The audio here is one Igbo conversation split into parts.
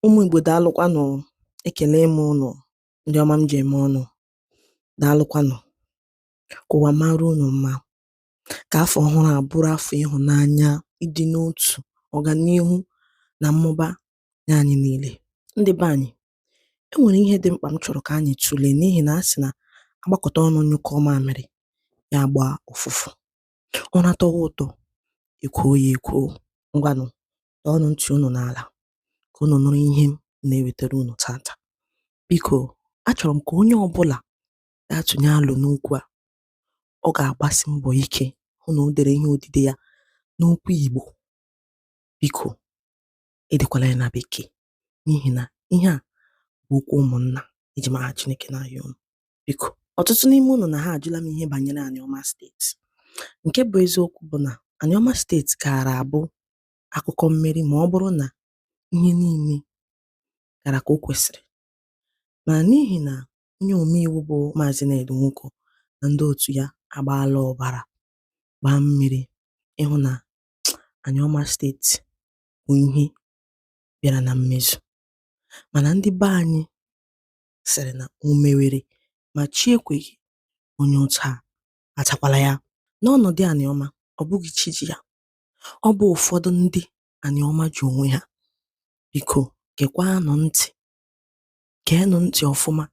Ụmụ Igbo daalụkwanụ ekele m ụnụ ndị ọma m ji eme ọnụ daalụkwanụ ka ụwa mara unu mma ka afọ ọhụrụ a bụrụ afọ ịhụnanya ịdị n'otu ọganihu na mmụba nye anyị niile ndị be anyị e nwere ihe dị mkpa m chọrọ ka anyị tụlee n'ihi na a sị na agbakọta ọnụ nyụkọọ mamịrị ya agbaa ụfụfụ ụra tọwa ụtọ ekwoo ya ekwoo ngwanụ tọọnụ ntị unu n'ala ka unu nụrụ ihe m na-ewetara unu tata biko achọrọ m ka onye ọbụla ga-atụnye alo n'okwu a ọ ga-agbasi mbọ ike hụ na o dere ihe odide ya n'okwu Igbo biko edekwala ya na bekee n'ihi na ihe a bụ okwu ụmụnna eji m aha Chineke na-ayọ unu biko ọtụtụ n'ime unu na ha ajụla m ihe banyere Anioma steeti nke bụ eziokwu bụ na Anioma steeti gaara abụ akụkọ mmeri ma ọ bụrụ na ihe niile gara ka o kwesịrị. Ma n'ihi na onye omeiwu bụ Maazị Ned Nwoko na ndị otu ya agbaala ọbara gbaa mmiri ịhụ na Anioma steeti bụ ihe bịara na mmezu. Mana ndị be anyị sịrị na o mewere ma chi ekweghị onye ụta atakwala ya. N'ọnọdụ Anioma, ọ bụghị chi ji ya. ọ bụ ụfọdụ ndị Anioma ji onwe ha biko gekwaanụ ntị geenụ ntị ọfụma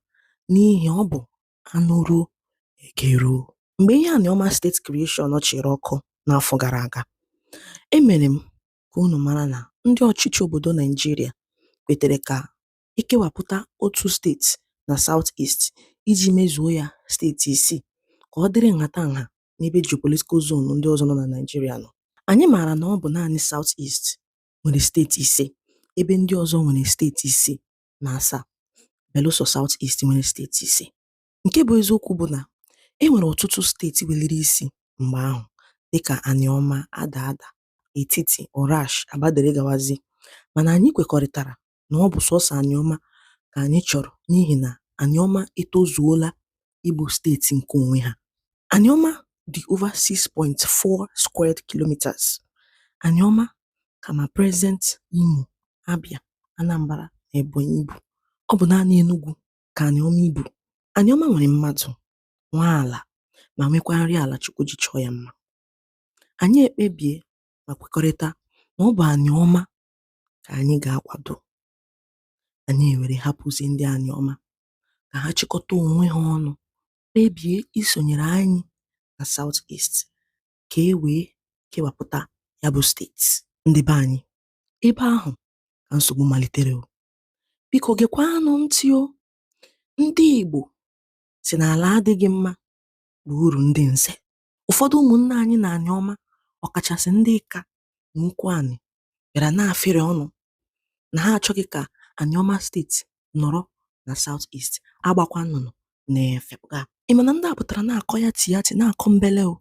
n'ihi ọ bụ anụruo egeruo mgbe ihe Anioma steeti creation chịrị ọkụ n'afọ gara aga emere m ka unu mara na ndị ọchịchị obodo naijiria kwetere ka ekewapụta otu steeti na south east iji mezuo ya steeti isii ka ọ dịrị nhatanha n'ebe geopolitical zone ndị ọzọ nọ na Naịjirịa nọ. Anyị maara na ọ bụ naanị South East nwere steeti ise ebe ndị ọzọ nwere steeti isii na asaa belụsọ South East nwere steeti ise. Nke bụ eziokwu bụ na e nwere ọtụtụ steeti weliri isi mgbe ahụ dịka Anioma, Adada, Etiti, Orashi, Aba dere gawazie mana anyị kwekọrịtara na ọ bụ sọsọ Anioma ka anyị chọrọ n'ihi na Anioma etozuola ịbụ steeti nke onwe ha. Anioma dị over 6.4 squared kilometres. Anioma ka ma present Imo, Abia, Anambra na Ebonyi ibu. Ọ bụ naanị Enugwu ka Anioma ibu. Anioma nwere mmadụ, nwee ala ma nwekwa nri ala Chukwu ji chọọ ya mma. Anyị ekpebie ma kwekọrịta na ọ bụ Anioma ka anyị ga-akwado anyị ewere hapụzi ndị Anịọma ka ha chịkọta onwe ha ọnụ kpebie isonyere anyị na South East ka e wee kewapụta ya bụ steeti ndị be anyị ebe ahụ ka nsogbu malitere o biko gekwanụ ntị o ndị Igbo sị na ala adịghị mma bụ uru ndị nze ụfọdụ ụmụnna anyị na Anịọma ọkachasị ndị Ika na Ụkwụanị bịara na-afịrị ọnụ na ha achọghị ka Anịọma steeti nọrọ na South East agbakwa nnụnụ na-efepụga ị ma na ndị a pụtara na-akọ yati yati na-akọ mbele o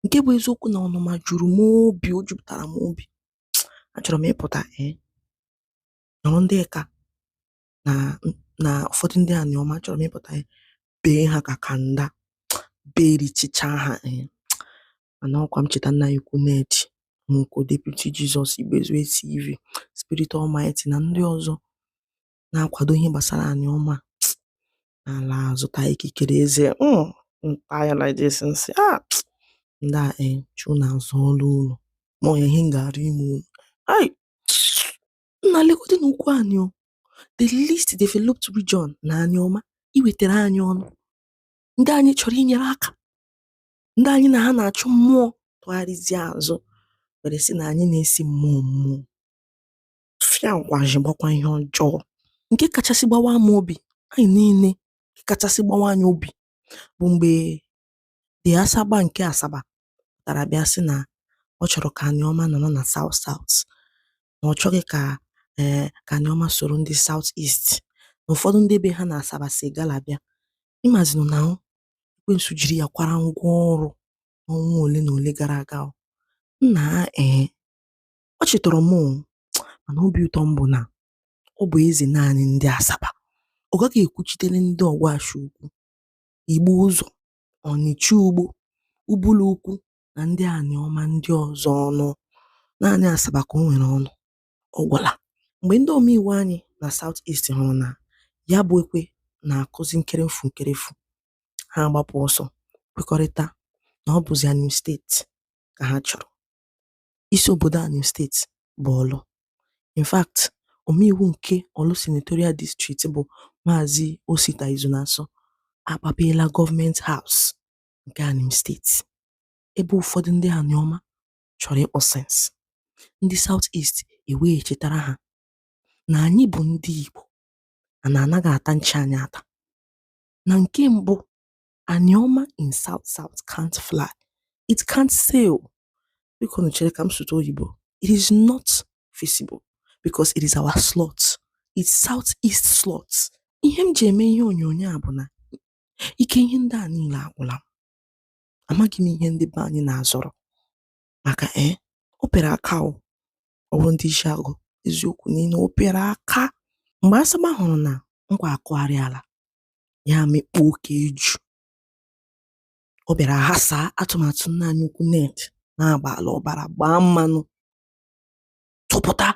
nke bụ eziokwu na ọnụma juru m obi o jupụtara m obi achọrọ m ịpụta ee nọrọ ndị Ika na na ụfọdụ ndị Anịọma achọrọ m ịpụta ya bee ha ka kanda berichicha ha ee mana ọkwa m cheta nna anyị ukwu Ned Nwoko deputi jizọs igbezu tv spirit almighty na ndị ọzọ na-akwado ihe gbasara Anịọma m ala azụ ta ikikere eze mm, m ta ya like this m sị a ah, ndị a ee eh, chụ na azụ ọlụ ụlọ ma ọ ya ihe m ga-arụ ime ụlọ Nna legodi na Ụkwụanị o the least developed region na Anịọma iwetara anyị ọnụ ndị anyị chọrọ inyere aka ndị anyị na ha na-achụ mmụọ tụgharịzie azụ were sị na anyị na-esi mmụọ mmụọ fịa nkwaji gbakwa ihe ọjọọ nke kachasị gbawaa m obi anyị niile nke kachasị gbawa anyị obi bụ mgbe The Asagba nke Asaba pụtara bịa sị na ọ chọrọ ka Anịọma nọrọ na South South na ọ chọghị ka ee eh, ka Anịọma soro ndị South East na ụfọdụ ndị be ha na Asaba si Igala bịa ị mazinụ na ekwensu jiri ya kwara ngwa ọrụ ọnwa ole na ole gara aga nna ee eh, ọchị tọrọ m mana obi ụtọ m bụ na ọ bụ eze naanị ndị Asaba ọ gaghị ekwuchitere ndị Ọgwashi Ukwu Igbo ụzọ, Ọnịcha ugbo, Ubulu ukwu na ndị Anịọma ndị ọzọ ọnụ. Naanị Asaba ka o nwere ọnụ. Ọ gwụla. Mgbe ndị omeiwu anyị na South East hụrụ na ya bụ ekwe na-akụzi nkerefu nkerefu, ha agbapụ ọsọ kwekọrịta na ọ bụzi Anịm steeti ka ha chọrọ. isi obodo Anịm steeti bụ Ọlụ. In fact, omeiwu nke Ọlụ Senatorial District bụ Maazị Osita Izunasọ akpapeela gọọmenti haus nke Anịm steeti ebe ụfọdụ ndị Anịọma chọrọ ịkpọ sense. Ndị South East ewee chetara ha na anyị bụ ndị Igbo na anaghị ata nchi anyị ata. Na nke mbụ Anioma in South South can't fly. It can't sail. Biko nu chere ka m sụta oyibo. It is not feasible because it is our slot. It's South East slot. Ihe m ji eme ihe onyonyo a bụ na ike ihe ndị a niile agwụla m. Amaghị m ihe ndị be anyị na-azọrọ maka ee eh, o pere aka o ọ bụrụ ndị isi agụ eziokwu niile o pere aka mgbe Asagba hụrụ na nkwa akụgharịala ya amịkpuo ka eju ọ bịara ghasaa atụmatụ nna anyị ukwu Ned na-agbaala ọbara gbaa mmanụ tụpụta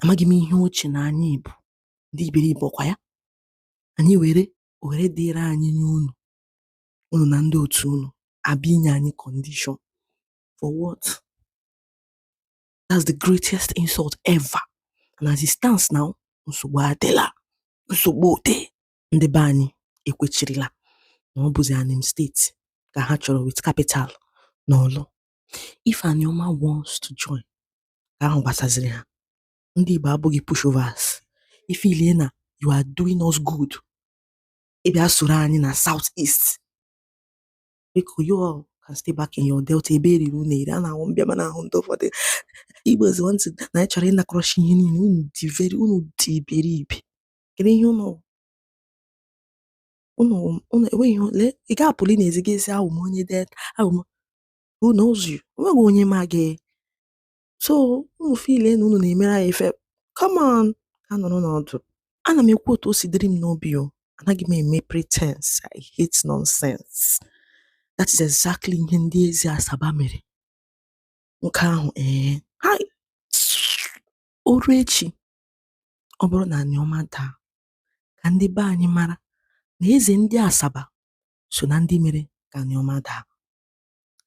amaghị m ihe o che na anyị bụ ndị iberibe ọkwa ya anyị were ohere dịịrị anyị nye unu unu na ndị otu unu abịa inye anyị kọndishọn for what that's the greatest insult ever and as it stands now nsogbu adịla nsogbu dị ndị be anyị ekwechirila na ọ bụzi anim steeti ka ha chọrọ with capital na Orlu if anioma wants to join ka ahụ gbasaziri ha ndị igbo abụghị pushovers ị feelie na you are doing us good ịbịa soro anyị na south east biko you all can stay back in your delta ebe e riri unu eri a na-ahụ mbịa ma na-ahụ ndị ụfọdụ Igbos want na anyị chọrọ ịnakọrọchi ihe niile unu dị iberi unu dị iberibe kedu ihe unu unu unu enweghị ihe lee ị ga-apụli n'ezi gaa sị awụ m onye delta awụ m who knows you onweghị onye ma gị so unu feelie na unu na-emere anyị ife come on gaa nọrọ n'ọdụ ana m ekwu otu o si dịrị m n'obi o anaghị m eme pretense i hate nonsense that is exactly ihe ndị eze asaba mere nke ahụ ee eh, ha o ruo echi ọ bụrụ na Anioma daa ka ndị be anyị mara na eze ndị asaba so na ndị mere ka Anioma daa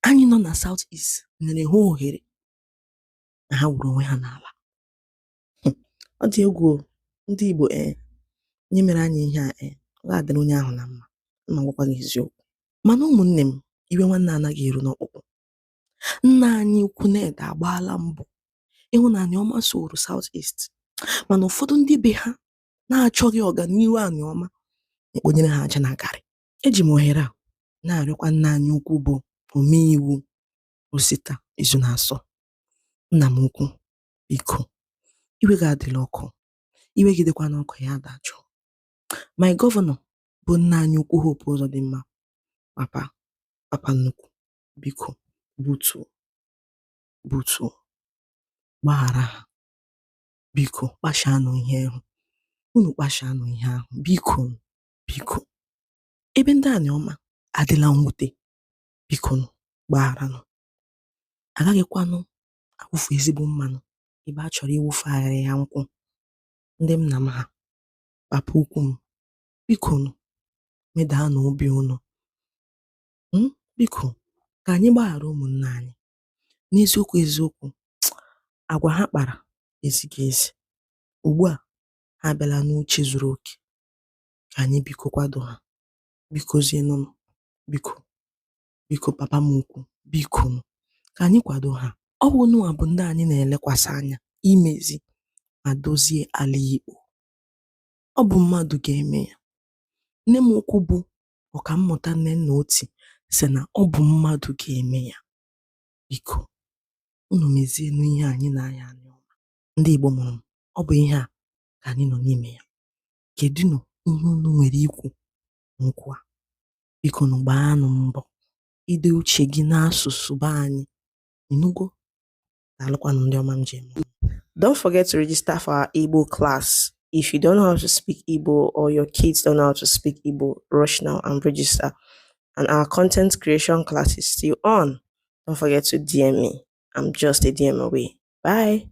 anyị nọ na South East nyere ha ohere na ha wuru onwe ha n'ala hmm. ọ dị egwu ndị Igbo ee eh, onye mere anyị ihe a ee eh, ọ ga-adịrị onye ahụ na mma m agwakwa gị eziokwu mana ụmụnne m iwe nwanne anaghị eru n'ọkpụkpụ nna anyị ukwu Ned agbaala mbọ ịhụ na Anioma soro South East mana ụfọdụ ndị be ha na-achọghị ọganihu Anioma ekponyere ha aja na garị Eji m ohere a na-arịọkwa nna anyị ukwu bụ omeiwu Osita Izunasọ, nna m ukwu, biko, iwe gị adịla ọkụ, iwe gị dịkwanụ ọkụ ya dajụọ. My gọvanọ bụ nna anyị ukwu Hope Uzodimma, papa, papa nnukwu, biko, butuo, butuo, gbaghara ha, biko, kpashaanụ ihe ahụ, unu kpashaanụ ihe ahụ, biko. biko ebe ndị Anioma adịla mwute bikonụ gbagharanụ a gaghịkwanụ awụfu ezigbo mmanụ ebe a chọrọ ịwụfu aghịrịgha nkwụ ndị nna m ha papa ukwu m bikonụ medaanụ obi unu hmm? biko ka anyị gbaghara ụmụnna anyị n'eziokwu eziokwu agwa ha kpara ezighị ezi ugbu a ha abịala n'uche zuru oke anyị biko kwado ha bikozienụnụ biko biko papa m ukwu bikonụ ka anyị kwado ha ọ bụ unuwa bụ ndị anyị na-elekwasị anya imezi ma dozie ala Igbo ọ bụ mmadụ ga-eme ya nne m ukwu bụ ọkammụta Nnenna Oti sị na ọ bụ mmadụ ga-eme ya biko unu mezienụ ihe anyị na-anya Anioma ndị Igbo mụrụ m ọ bụ ihe a ka anyị nọ n'ime ya kedunụ ihe unu nwere ikwu n'okwu a bikonụ gbaanụ mbọ ide uche gị n'asụsụ be anyị ị nụgo daalụkwanụ ndị ọma m ji eme Don't forget to register for our Igbo class. If you don't know how to speak Igbo or your kids don't know how to speak Igbo, rush now and register. And our content creation class is still on. Don't forget to DM me. I'm just a DM away. Bye.